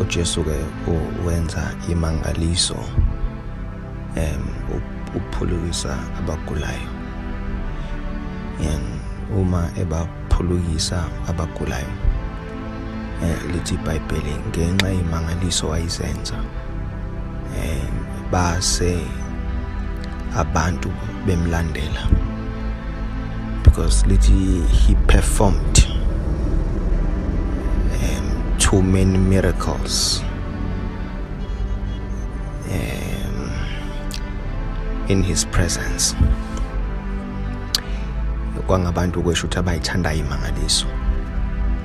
uJesu ke wenza imangaliso em ukuphulukisa abagulayo yani uma ebaphulukisa abagulayo eh lithi iBhayibheli ngenxa yemangaliso ayizenza eh base abantu bemlandela because lithi he performed um, too many miracles um, in his presence kwangabantu kwesho ukuthi abayithandayo imangaliso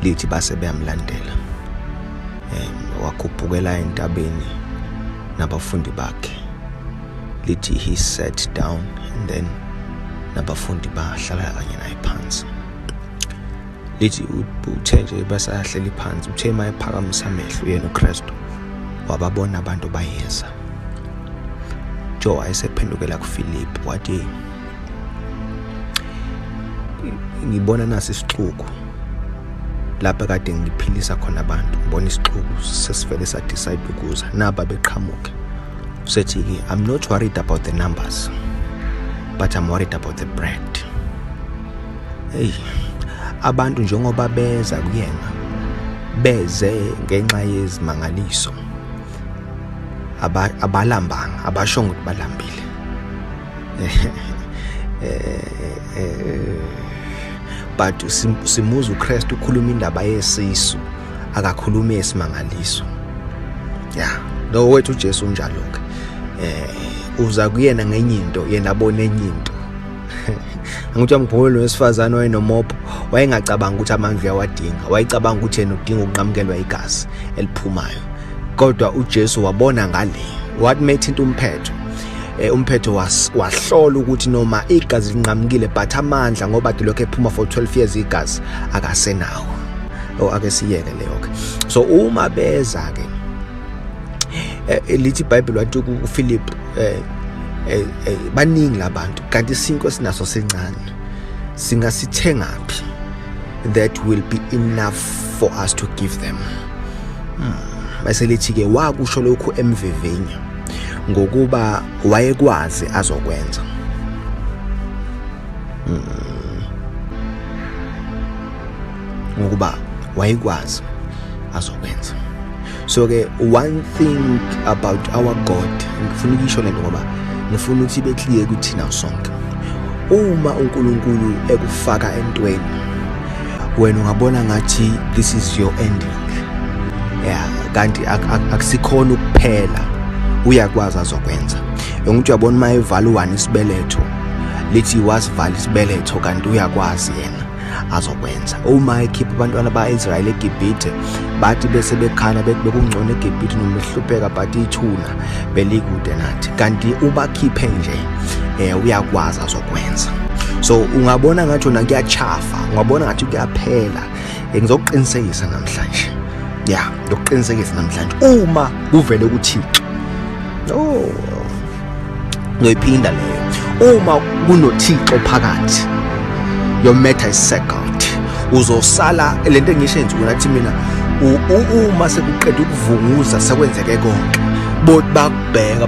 lithi base beyamlandela um wakhuphukela entabeni nabafundi bakhe lithi he sat down and then nabafundi bahlala kanye naye phansi lithi uthe nje basahleli phansi uthe uma ephakamisa amehlo yena uKristu wababona abantu bayeza Joe wayesephendukela kuFilip wathi ngibona nasi isixuku lapha kade ngiphilisa khona abantu ngibona isixuku sesivele sa decide ukuza naba beqhamuke usethi ke i'm not worried about the numbers but i'm worried about the brand hey abantu njengoba beza kuyena beze ngenxa yezimangaliso abalambanga abashongo ukuthi balambile but simuza uKristu ukhuluma indaba yesisu akakhulumi esimangaliso ya lo wethu uJesu unjalo ke eh uza kuyena ngenye into yena abone enye into angithi amgqolo lo wesifazane wayenomopho wayengacabanga ukuthi amanzi uyawadinga wayecabanga ukuthi yena udinga ukunqamukelwa igazi eliphumayo kodwa uJesu wabona ngale what made into umphetho eh, umphetho was wahlola ukuthi noma igazi linqamukile but amandla ngoba dilokho ephuma for 12 years igazi akasenawo o oh, ake siyeke leyo ke so uma beza ke eh, eh, lithi bible wathi ku Philip eh, eh, eh, baningi labantu kanti sinko sinaso sincane singasithengaphi that will be enough for us to give them hmm. bese lithi ke wakusho lokhu emvivinya ngokuba wayekwazi azokwenza mm. ngokuba wayekwazi azokwenza so ke one thing about our god ngifuna ukuyisho lento ngoba ngifuna ukuthi ibe clear kuthina sonke uma uNkulunkulu ekufaka entweni wena ungabona ngathi this is your ending yeah kanti akusikhona ukuphela uyakwazi azokwenza engukuthi uyabona uma evala u-one isibeletho lithi wasivala isibeletho kanti uyakwazi yena azokwenza uma ekhipha abantwana ba-israyeli egibhithe bathi bese bekhala bethi bekungcono egibhithe noma behlupheka but ithuna belikude nathi kanti ubakhiphe nje um uyakwazi azokwenza so ungabona ngathi ona kuyachafa ngwabona ngathi kuyaphela ngizokuqinisekisa namhlanje ya ngizokuqinisekisa namhlanje uma kuvele kuthixo no ngiyoyiphinda leyo uma kunothixo phakathi your matter is second uzosala lento engisho enzuku nathi mina uma sekuqeda ukuvunguza sekwenzeke konke bot bakubheka